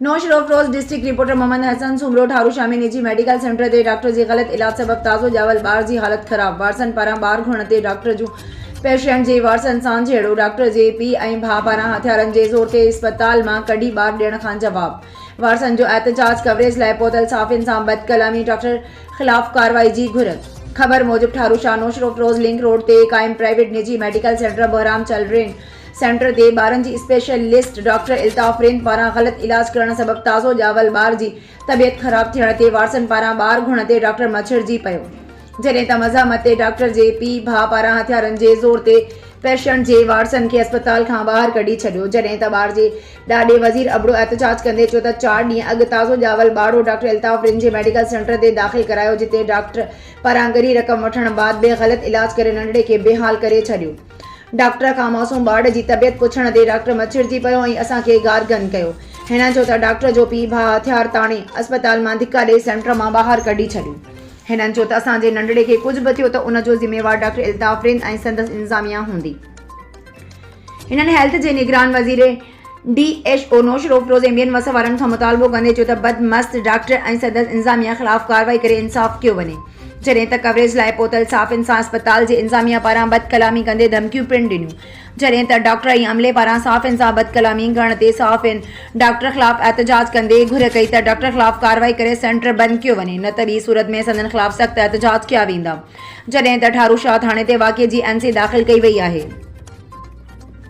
نوش road cross district reporter Muhammad Hasan Soomro Tharu Shah ۾ نجي medical centre تي ڊاڪٽر جي غلط علاج سبب تازو ڄاول ٻار جي حالت خراب وارثن پاران ٻار گهرڻ تي ڊاڪٽر جون پيشنٽ جي وارثن سان جهيڙو ڊاڪٽر جي پيء ۽ ڀاء پاران هٿيارن جي زور تي اسپتال مان ڪڍي ٻار ڏيڻ کان جواب وارثن جو احتجاج ڪوريج لاء پهتل صحافين سان بد ڪلامي ڊاڪٽر خلاف ڪارروائي جي گهر خبر موجب ٺارو شاهه نوش روڊ ڪراس لنڪ روڊ تي قائم پرائيويٽ نجي ميڊيڪل سينٽر بهرام چل رين سينٽر تي ٻارن جي اسپيشلسٽ ڊاڪٽر الطاف رند پاران غلط علاج ڪرڻ سبب تازو ڄاول ٻار جي طبيعت خراب ٿيڻ تي وارثن پاران ٻار گهڻ تي ڊاڪٽر مڇرجي پيو جڏهن ته مزاحمت تي ڊاڪٽر جي پيء ڀاء پاران هٿيارن جي زور تي پيشنٽ جي وارثن کي اسپتال کان ٻاهر ڪڍي ڇڏيو جڏهن ته ٻار جي ڏاڏي وزير ابڙو احتجاج ڪندي چيو ته چار ڏينهن اڳ تازو ڄاول ٻارڙو ڊاڪٽر الطاف رند جي ميڊيڪل سينٽر تي داخل ڪرايو جتي ڊاڪٽر پاران ڳري رقم وٺڻ بعد به غلط علاج ڪري ننڍڙي کي بي حال ڪري ڇڏيو ڊاڪٽر کان معصوم ٻارڙي جي طبيعت پڇڻ تي ڊاڪٽر مچرجي پيو ۽ اسان کي گارگن ڪيو. هن چيو ته ڊاڪٽر جو پيء ڀاء هٿيار تاڻي اسپتال مان ڌڪا ڏئي سينٽر مان ٻاهر ڪڍي ڇڏيو. هن چيو ته اسان جي ننڍڙي کي ڪجهه به ٿيو ته ان جو ذميوار ڊاڪٽر الطاف رند ۽ سندس انتظاميا هوندي. هنن هيلٿ جي نگران وزير، D H O Naushahro Feroze M بين وس وارن کان مطالبو ڪندي چيو ته بدمست ڊاڪٽر ۽ سندس انظاميه خلاف ڪارروائي ڪري انصاف ڪيو وڃي جڏهن ته ڪوريج لاء پهتل صاف انسان اسپتال جي انظاميه پاران بدڪلامي ڪندي ڌمڪيون پڻ ڏنيون جڏهن ته ڊاڪٽر ۽ عملي پاران صاف انسان بدڪلامي ڪرڻ تي صحافين ڊاڪٽر خلاف احتجاج ڪندي گهر ڪئي ته ڊاڪٽر خلاف ڪارروائي ڪري سينٽر بند ڪيو وڃي نه ته ٻي صورت ۾ سندن خلاف سخت احتجاج ڪيا ويندا جڏهن ته ٺاروشاهه ٿاڻي تي واقعي جي اين سي داخل ڪئي وئي آهي.